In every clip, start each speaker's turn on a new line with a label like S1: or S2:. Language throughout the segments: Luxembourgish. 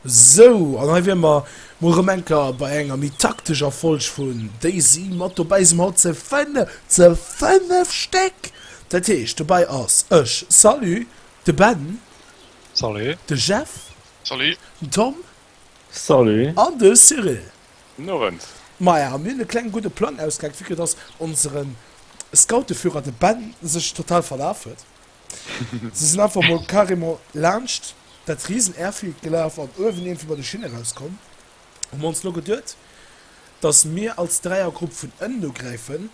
S1: Sou, an hei wiere mer mol erëm eng Kéier bei enger méi taktescher Folg vun Daisy mat dobäi. Sinn mer haut ze fënnef, ze fënnef Stéck! Dat heescht, dobäi ass, ech, Salut! de Ben, Salut!
S2: de Jeff,
S1: Salut! den
S3: Tom,
S1: Salut!
S4: an de Cyril.
S1: Gudden Owend!
S2: Maja, mir hunn
S1: e klenge gudde Plang ausgehaackt, vu que dass onseren Scouteführer, de Ben, sech total verlaf huet. Si sinn einfach mol carrément laanscht dat riesen Airfield gelaf an uewen iergendwéi bei de Schinne rauskomm. Hu mer ons lo geduet, dass mir als Dräiergrupp vun ënnen no gräifen,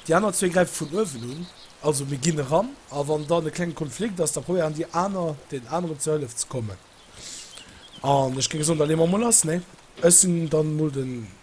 S1: déi aner zwee gräife vun uewen un. Also mir ginn eran a wann dann e klenge Konflikt ass, da probéieren déi aner den aneren zur Hëllef ze kommen. An ech géing soen, da leeë mer mol lass, nee? Ech sinn dann mol den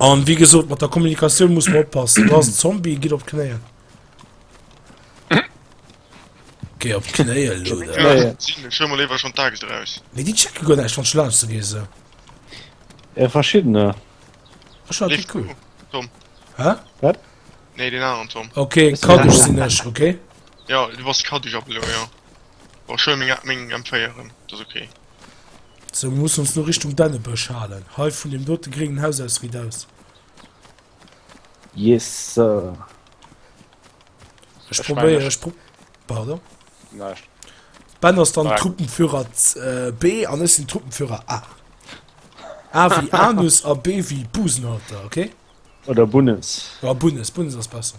S1: An wéi gesot mat der Kommunikatioun muss mer oppassen. Du ass Zombie gitt op d'Knéien. Gei op d'Knéie lo. Schëmmer
S4: lewer schon
S3: Tages eraus. Mee Di checke guer näischt wann
S1: schlaf ze gi se. E
S4: verschiddener.
S1: Ech war cool. Tom. Hä?
S3: Wat?
S1: Nee
S3: den anderen Tom. Okay, Kaddusch sinn
S1: ech,
S4: okay?
S1: Ja, du bass
S3: Kaddusch ab elo, ja. War schön meng meng M4 erëm, dat ass okay.
S1: Sou, mir mussen ons lo Richtung Dännebësch halen. Hei vun deem dote gréngen Haus aus riit aus.
S4: Yes sir.
S1: Ech probéieren, ech
S2: pro. Pardon? Näischt. Ben ass
S1: dann Truppenführer äh, B an ech sinn Truppenführer A. A wie Anus a B wie Busenhalter, okay? Oder Bunnes.
S4: Oder Bunnes, Bunnes ass
S1: besser.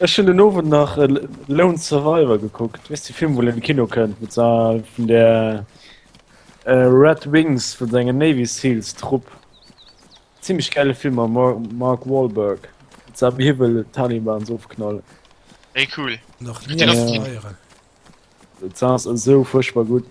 S4: Ech hun den Owend nach Lone Survivor gekuckt, weess de Film wou en an de Kino kënnt mat vun der Red Wings vun senger Navy Seals Trupp. Zimlech gäile Film mam Mark Wahlberg sa wéi hie wëll d'Talibans ofknallen. Hey cool.
S3: Nach nie eis feieren.
S1: Dat
S4: ass esou fuerchtbar gutt.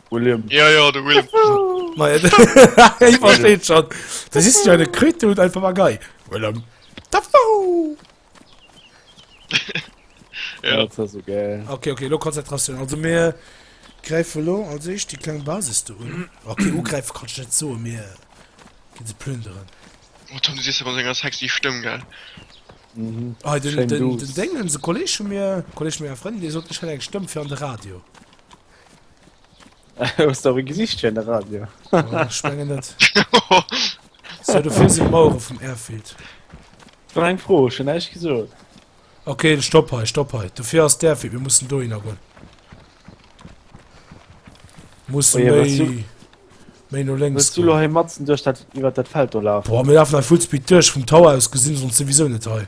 S1: William. Ja, ja,
S4: de
S3: William.
S1: Hie versteet schonn. Dat ass jo de Krütthut als Papagei. William. Dafoe!
S3: Ja. Dat war sou gäil.
S4: Okay, okay, elo Konzentratioun.
S1: Also mir gräife lo als éischt déi kleng Basis do un. Okay, ugräife kann ech net soen, mir gi se plünderen. Oh, Tom, du sichs
S3: awer mat enger sexy Stëmm, gell?
S4: Mhm. Ah, den, Schéin den, duuss.
S1: den Déngens,
S4: e
S1: Kolleg
S4: vu mir,
S1: Kolleg vu menger Frëndin, dee sot, ech hätt eng Stëmm fir an de Radio.
S4: Hues du awer e Gesicht fir de Radio? Oh, ich menge net.
S1: So, du fährst die Mauer vom Airfield. War
S4: eng Fro, schon näischt gesot. Okay,
S1: stopp hei, stopp hei. Du fährst der Airfield, wir müssen do hingoen. Muss oh, ja, méi...
S4: Méi no
S1: links. Willst du lo hei matzen durch
S4: dat, iwwer dat Feld do laufen? Boah, mir laufen hei Fullspeed
S1: durch, vom Tower aus gesehen, sonst sowieso nicht hei.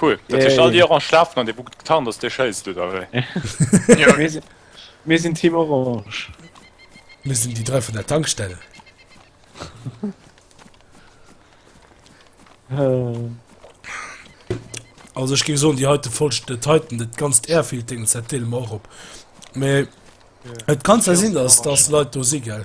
S5: Cool dat heescht all déi Orange
S4: schlafen
S5: an dee Bug getarnt ass dee schéisst du da wéi? Jo mir sinn,
S3: mir
S4: sinn Team Orange. Mir
S1: sinn déi dräi vun der Tankstell. Also ech géif soen déi heite Folg den heiten dat ganzt Airfiltering dat deele mer och op. Mee et kann zwar sinn datt datt Leit do si gell.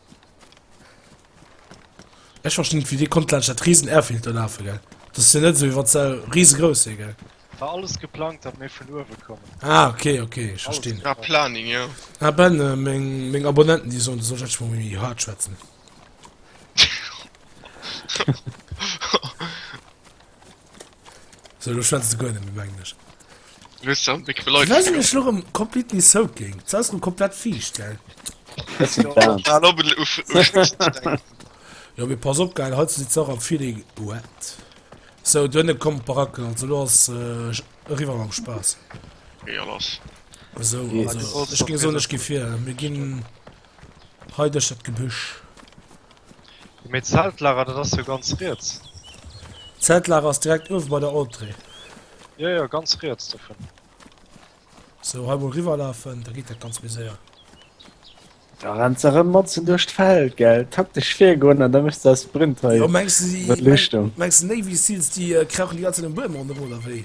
S1: Ech verstinn net wéi dee konnt laanscht dat riesen Airfield do lafe gell. Dat ass jo net esou wéi wann se riesegrouss wier gell. War alles geplangt
S2: datt mir vun uewe kommen. Ah ok ok
S1: ech verstinn. War Planning jo.
S3: Ah Ben meng
S1: meng Abonnenten déi soen du solls endlech mol méi haart schwätzen. So, lo schwätzt du guer net méi um Englesch.
S3: Wéi sinn ech lo rëm completely
S1: soaking? Jetzt ass lo komplett fiicht, gell?
S3: Jo, mee
S1: pass op, gell, hei sidd se och am Feeling wet. So, duerno komm Baracken, also lo ass eriwwer mam Spaass.
S3: Esou, also
S1: ech géif
S4: soen, ech gi
S1: vir. Mir ginn. Hei duerch dat Gebüsch.
S2: Mee d'Zeltlager dat ass jo ganz riets. D'Zeltlager
S1: ass direkt uewe bei der Entrée. Jo jo,
S2: ganz riets dovun.
S1: Sou, hei mol riwwerlafen, da geet dat ganz méi séier.
S4: Da renns de rëm matzen duerch d'Feld, gell? Taktesch virgoen an da méchs de eis Sprint hei. Jo, mengs de,
S1: déi, mengs de
S4: Navy Seals,
S1: déi krauchen déi ganze Zäit um Buedem ronderëm oder wéi?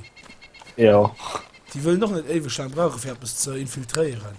S1: Jo.
S4: Déi wëllen
S1: och net éiweg laang brauchen, fir eppes ze infiltréieren.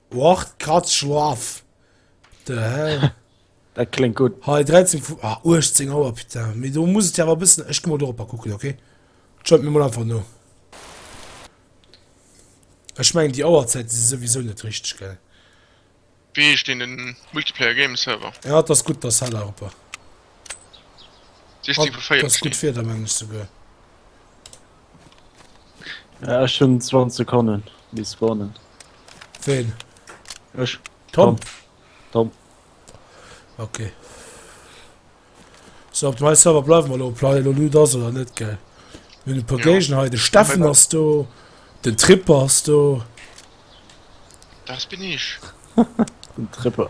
S1: Och d'Katz schlaff. The hell? Dat kléngt gutt.
S4: Hei, 13 vu.
S1: Ah, 18 Auer, putain. Mee do muss et jo awer e bëssen. Ech gi mol doropper kucken, ok? Schalt mir mol einfach no. Ech mengen, déi Auerzäite si souwisou net richteg, gell? Wéi
S3: heescht deen den Multiplayer Games Server? Jo, et ass gutt, dass
S1: Hell aropper. 16 vu 40.
S3: Das gut Wieder mengen ech
S1: souguer.
S4: Ja, ech hun
S1: 20
S4: Sekonnen bis spawnen. Wen?
S1: Ech.
S4: Tom.
S1: Tom. Okay. So op mei Server bleiwen mer lo Plei lo Lüd ass oder net gell. Min per Gegen hei de Steffen ass do, den Tripper ass do.
S3: Das bin ich. Den
S4: Tripper.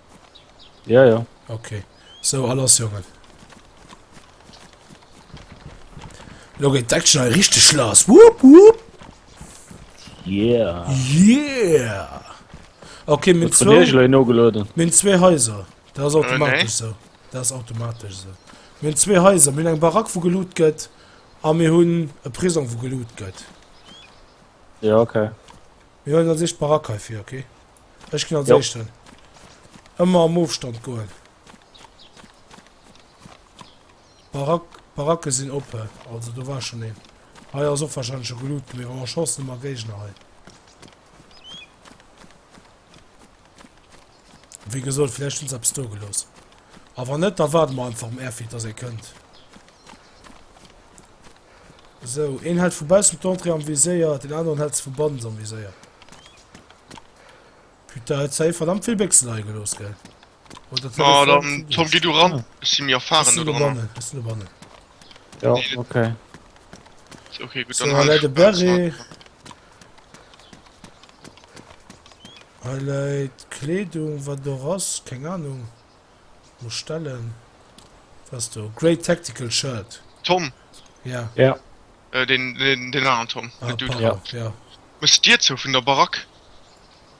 S1: Ja, ja.
S4: Okay. So,
S1: a lass, Jongen. Lo geet d'Action hei richteg lass. Wupp, wupp. Yeah.
S4: Yeah.
S1: Okay, minn zwou... Wat hun no geloden?
S4: Minn
S1: zwee
S4: Häuser.
S1: Dat ass automatisch äh, so. Dat ass automatisch so. Minn zwee Häuser. Minn eng Barack, wo geloot gëtt. A mir hunn e Prisong, wo geloot gëtt.
S4: Ja, okay. Mir hunn an
S1: sich Barack heifir, okay? Ech ginn als jo. Éischten. Ëmmer am Ofstand goen. Barack, Baracke sinn oppe. Also do war schon een. Hei ass och wahrscheinlech scho geloot gewier. Oh, Chance hu mer Géigner hei. Wéi gesot, vläicht hunn se eppes do gelooss. A wann net, da waarde mer einfach um Airfield, dass ee kënnt. Sou, een hält vu baussen d'Entrée am Viséier, deen aneren hält se vu bannens am Viséier. Putain, huet safe verdammt vill Béchsen leie gelooss, gell? Oder dat war. Ah, dann
S3: Tom, geh du ran. Ech si méi Ech erfaren sinn do do drënner. bannen, ech sinn do
S1: bannen. Jo,
S3: Nee,
S4: dat- okay.
S3: Okay, gutt, dann So, hei hal läit de ech
S1: baussen Beret. an. Hei läit d'Kleedung, wat do ass, keng Ahnung. Muss stellen. Was du? Great Tactical Shirt. Tom.
S3: Ja. Ja.
S1: Äh,
S4: den,
S3: den, den anderen Tom. Ah, den Dude. Ja. ja.
S1: Muss dir zu vun
S3: der Barack.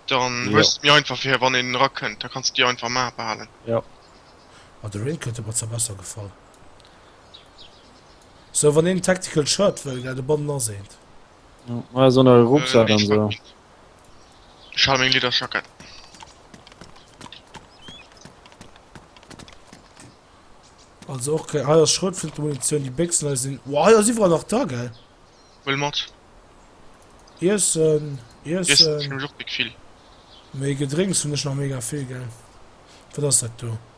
S3: Dann ja. hues mir einfach
S4: fir wann en
S3: ra kënnt, da kannst dir einfach ma behalen. Ja.
S1: Ah, de Rain kënnt mat ze besser gefall. So wann en Tactical Shirt wëll, gell de Bon aseent.
S4: Ja, so Rucksack äh, an so.
S3: Ech hale meng Liederjackett.
S1: Also och keng. Hei ass Schrotflintemunitioun, déi Béchsen hei sinn. Wow, hei ass iwwerall nach da, gell? Huel mat. Iessen, Iessen Iessen.
S3: hunn ech och mega vill. Mee
S1: Gedrénks hunn ech nach mega vill, gell? Wat ass dat do?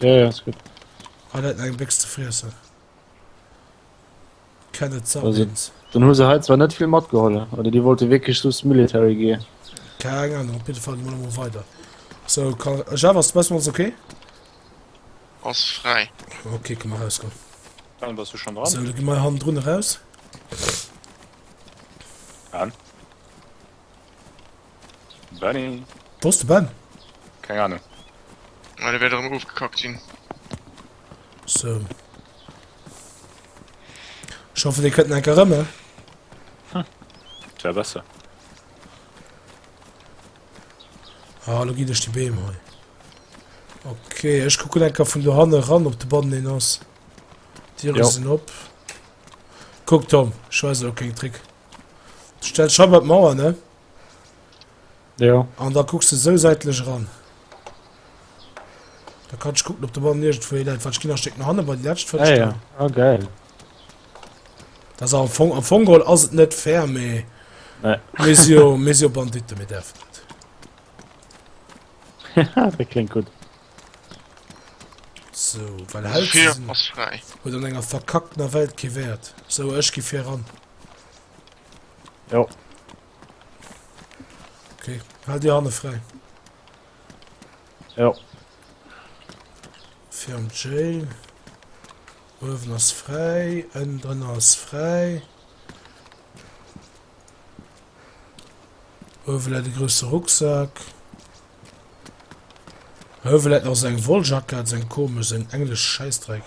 S1: Ja, ja, ist
S4: gut. Hei läit nach eng
S1: Béchs ze friessen. Kenneth Sabins. Also, dann
S4: hu se hei
S1: zwar net
S4: vill matgeholl, oder déi wollte wierklech soss Military gear. Keng Ahnung, op
S1: jidde Fall gi mer elo mol weider. So, kann, Jeff, ass de Bus mat ons ok?
S3: Ass fräi. Ok, kënne mer erausgoen.
S1: Dann bass du schonn
S5: dran. So, da gi mer hannendrun eraus. An? Benny. Wou ass de Ben?
S1: Keng
S5: Ahnung. Ah, dee wäert
S3: erëm erofgekackt sinn.
S1: So. Ech hoffen, dee kënnt enker erëm, eh? Hm.
S5: Dat wär besser.
S1: Ah, lo ginn ech déi Beem hei. Okay, ech kucken enker vun dohanne ran, ob de bannen een ass. D'Diere Jo. sinn op. Kuck, Tom, ech weisen der keng Trick. Stell d'Scheiw bei d'Mauer, ne?
S4: Jo. An da kucks
S1: de sou säitlech eran. Da kann ech kucken, ob de Ball nirgendwo hier läit, wat ech ginn nach Stéck no hanne bei déi lätsch Vëltel. Ah ja, ah geil. Da se am Fong, am Fong geholl ass et net fair, mee. Nee. Mir
S4: si jo, mir si jo
S1: Banditten, mir däerfen dat. Haha,
S4: dat klingt gut.
S1: So, well Held Tür sinn- ass frei.
S3: huet
S1: an enger
S3: verkacktener
S1: Welt kee Wäert. So, ech gi vir eran.
S4: Jo.
S1: Okay, halt die Hand frei. Jo.
S4: Fir
S1: am Jail. Uewen ass frei, ënnen drin ass frei. Uewen läit de grosse Rucksack. Uewen läit noch seng Wolljackett, seng komisch, seng englesch Scheißdreck.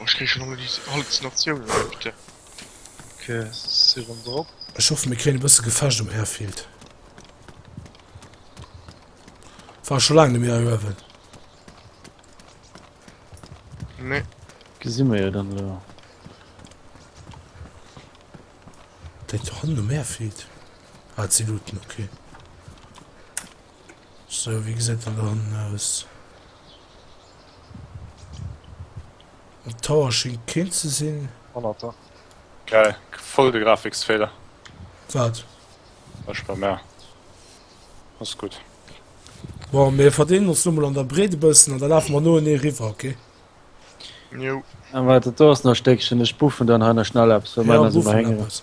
S1: Ech
S3: kréich schon Halluzinatiounen elo, putain. Ok,
S2: si rëm drop. Ech hoffe mir kréien e bësse
S1: Gefecht um Airfield. War scho laang nemmi hei uewen.
S3: Nee. Gesi mer
S4: jo dann elo.
S1: Déi do hannen um Airfield? Ah, et si Looten, ok. Sou, wéi gesäit dat dann aus? Am Tower schingt keen ze sinn. Honnerter.
S2: Geil,
S5: voll de Grafiksfeeler. Wat?
S1: Ech
S5: bei mer. Ass gutt. Bon,
S1: mir verdeelen ons lo mol an der Breet e bëssen an da lafe mer noenee riwwer, ok? Jo.
S3: Aah, waart, dat do
S4: ass nach e Stéckchen. Ech buffen dann hei nach schnell eppes, well Ja, mäiner si mer buffen héngeren. eppes.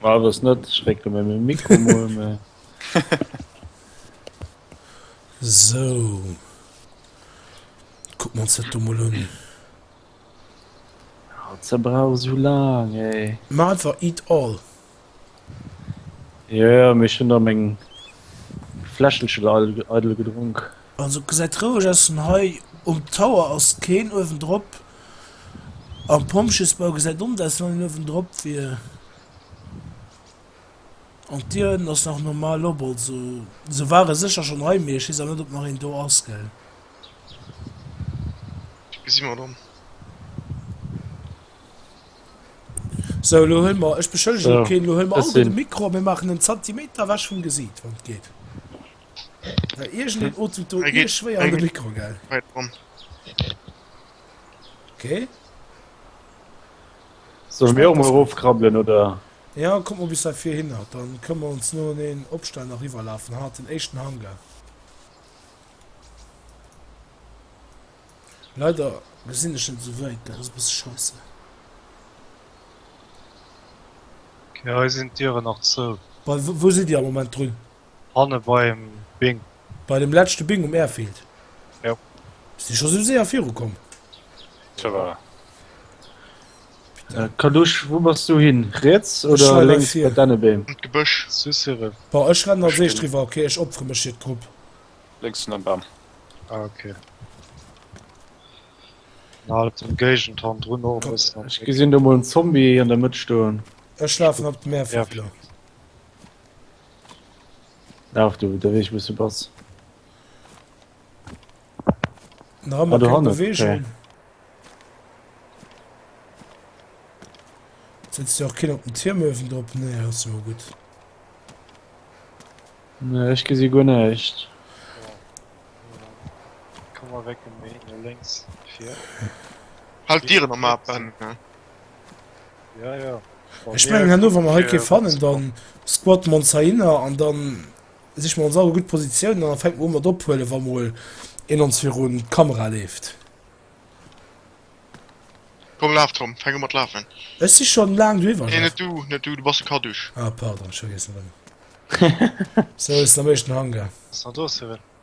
S2: War
S4: das net schrecken wenn mir Mikro mol me
S1: So Kuck man se du mol un.
S4: Ze brauch sou laang ey. Ma einfach eat
S1: all. Jo
S4: jo, mee ech hunn der meng Fläschelchen eidel gedronk. Also gesäit
S1: roueg aus vun hei. Um Tower ass keen uewen drop. Am Pompjeesbau gesäit omt aus wann een uewen drop wier. An d'Dier hënten ass nach normal op. Also se ware sécher schonn hei mee ech weess awer net ob nach een do ass gell.
S3: Si mer dann.
S1: Sou elo huel mer, ech beschëllegen keen, elo huel mer all gutt
S4: de Mikro
S1: a mir maachen en Zantimeter ewech vum Gesiit wann et geet. Bei irgendeinem Otut do ihr schwer an den Mikro,
S3: gell? Okay.
S4: Sollen wir auch mal raufkrabbeln, oder? Ja, komm mal bis da
S1: vier hin, dann können wir uns nur den Obstand nach rüberlaufen, hat den echten Hangar. Leider gesehen ich nicht so weit, das ist ein bisschen scheiße.
S2: Okay, hier sind Tiere noch zu. Wo, wo sind die am
S1: Moment drin? Hanne beim
S2: Bing. Bei dem letzchte
S1: Bing um Airfield? Jo.
S2: Bist de scho sou
S1: séier viru komm? Ça va.
S4: Kalusch, wou bass du hin? Riets oder lénks
S1: bei
S4: denne Beem?
S1: An d'Gebësch,
S4: sou
S3: Cyril. Bon,
S2: ech rennen als éischt
S1: riwwer, ok? Ech opfere mech fir d'Grupp. Lénks ënnert
S5: Bam. Ah, ok.
S2: An halt den Géigenton drun och e bëssen am Bléck. Ech gesinn do mol
S1: en
S2: Zombie
S4: an der Mëtt stoen. Ech lafen op
S1: den Airfield elo.
S4: Laaf du de Weg wous du bass.
S1: Nach ëmmer keng Bewegung. Okay. Setzt jo och keen op den Tierm uewen drop? Nee, dat ass ëmmer gutt.
S4: Nee, ech gesi guer näischt.
S2: Komm awecken, méi no lénks vir.
S3: Halt d'Dieren am Mape.
S2: Ja, ja. Ech mengen herno
S1: wann mer hei kee fannen, dann squatten mer ons heihinner an dann siche mer ons awer gutt Positiounen an dann fänken mer u mat ophuelen, wa mol een ons virun d'Kamera leeft.
S3: Komm laf Tom, fänk u mat lafen. Ech si schonn laang
S1: driwwer. Nee, net du, net du, du
S3: bass e Kadusch. Ah pardon, ech vergiessen
S1: et ëmmer. Sou, ech sinn am éischten Hangar. Ass nach do, Cyril?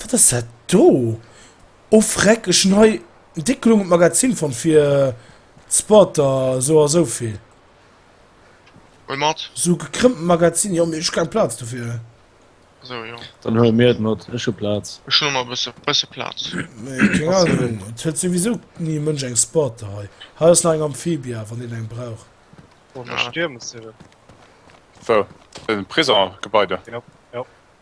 S1: Wat ass dat do? Oh freck, ech hun hei déck long d'Magazin fonnt fir d'Spotter, sou a sou vill.
S3: Huel mat. Sou gekrëmmten Magazin,
S1: jo mee ech hu keng Platz dofir. Sou jo.
S3: Dann huel mir et mat,
S4: ech hu Platz. Ech hun och nach e bësse
S3: Platz. Nee keng Ahnung,
S1: et huet souwisou ni e Mënsch eng Spotter hei. Hei ass nach eng Amphibia, wann een eng brauch.
S2: Wou?
S5: Prisongebaide?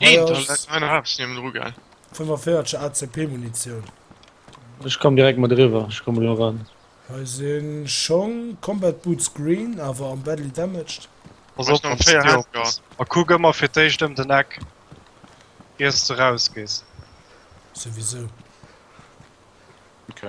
S1: Neen, da läit
S3: mei nach eppes niewent dru, gell? 45
S1: ACP Munitioun.
S4: Ech komm direkt mat eriwwer, ech komme lo eran. Hei si
S1: Schong, Combat Boots green, awer am badly damaged. Pass op op déi
S3: Hacker.
S2: A
S3: kuck
S2: ëmmer
S3: fir
S2: d'éischt ëm den Eck, iers s de rausgees. Souwisou.
S5: Ok.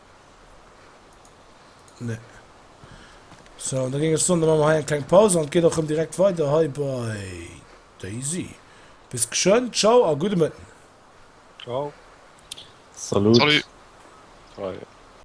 S1: Nee. So, da ging ech sonde mam hei eng kleng Pause an geht och rem direkt weiter hei bei Daisy. Bis geschön, ciao a gute Mëtten. Ciao. Salut. Salut. Hi.